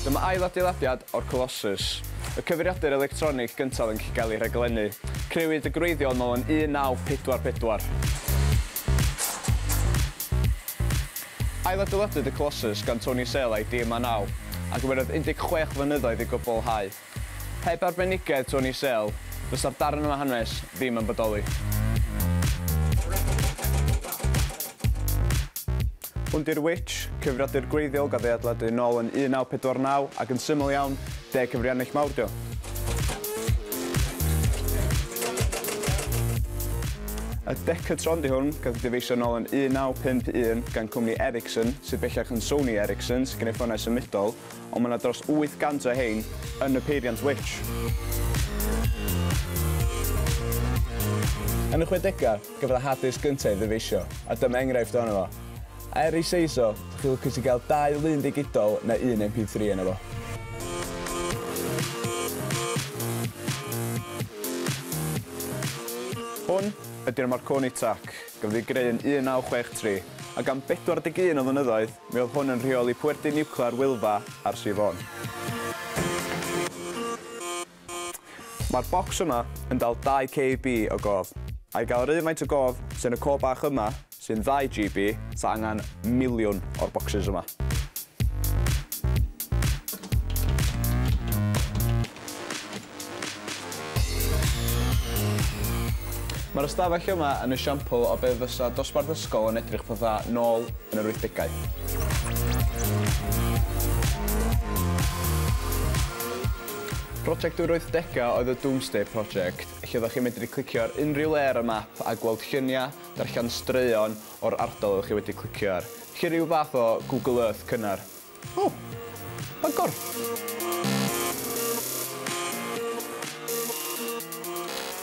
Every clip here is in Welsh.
Dyma ail adeiladiad o'r Colossus, y cyfeiriadur electronig gyntaf yn cael ei rhaglennu. Crëwyd y gwreiddiol nol yn 1944. Ailadeiladwyd y Colossus gan Tony Sale a'i dîm â naw, a gymerodd 16 flynyddoedd i gwblhau. Heb arbenigedd Tony Sale, fysa'r darn yma hanes ddim yn bodoli. Hwn 'di'r Witch, cyfriadur gwreiddiol gath ei adeiladu yn ôl yn 1949 ac yn syml iawn, deg cyfriannell mawr 'di o. Y Decatron 'di hwn, gath ei dyfeisio yn ôl yn 1951 gan cwmni Ericsson, sydd bellach yn Sony Ericsson, sy'n gwneud ffonau symudol. ond mae yna dros 800 o hein yn y peiriant Witch. Yn y chwedegau, cafodd y Hades gyntaf ei ddyfeisio, a dyma enghraifft ohono fo. A er ei seis o, dych chi'n lwcus i gael dau lun digidol neu un MP3 yno fo. Hwn ydy'r Marconi Tac. Gafodd ei greu yn 1963, ac am 41 o flynyddoedd, mi oedd hwn yn rheoli pwerdy niwclear Wylfa ar Sir Fôn. Mae'r bocs yma yn dal 2 KB o gof. I gael yr un faint o gof sydd yn y co bach yma, sy'n 2 GB, ta angen miliwn o'r bocsys yma. Mae'r ystafell yma yn esiampl o be fysa dosbarth ysgol yn edrych fatha nôl yn yr wythdegau. Prosiect yr wythdegau oedd y Domesday Project, lle oeddech chi'n medru clicio ar unrhyw le ar y map a gweld lluniau, darllen straeon o'r ardal oeddech chi wedi clicio ar, felly rhyw fath o Google Earth cynnar. O! Bygwr!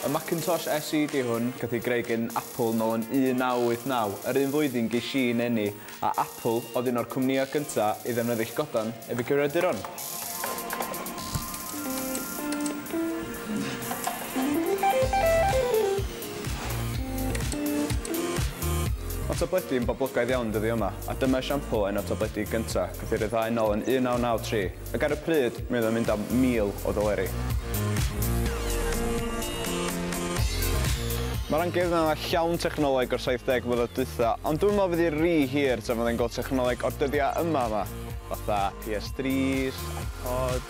Y Macintosh SE di hwn, gath i greu gin Apple nol yn 1989, yr un flwyddyn gesh i yn eni, a Apple oedd un o'r cwmnïau gynta i ddefnyddill godan efe guriaduron. Mae tabledi yn boblogaidd iawn dyddiau yma, a dyma esiampl un o'r tabledi gyntaf gath ei ryddhau nol yn 1993, ac ar y pryd, mi oedd o'n mynd am 1,000 o ddoleri. Mae'r amgueddfa yma llawn technoleg o'r 70 mlynedd dwytha, ond dwi'm yn meddwl fydd hi ry hir tan fydden ni'n gweld technoleg o'r dyddiau yma yma, fatha PS3s, iPods,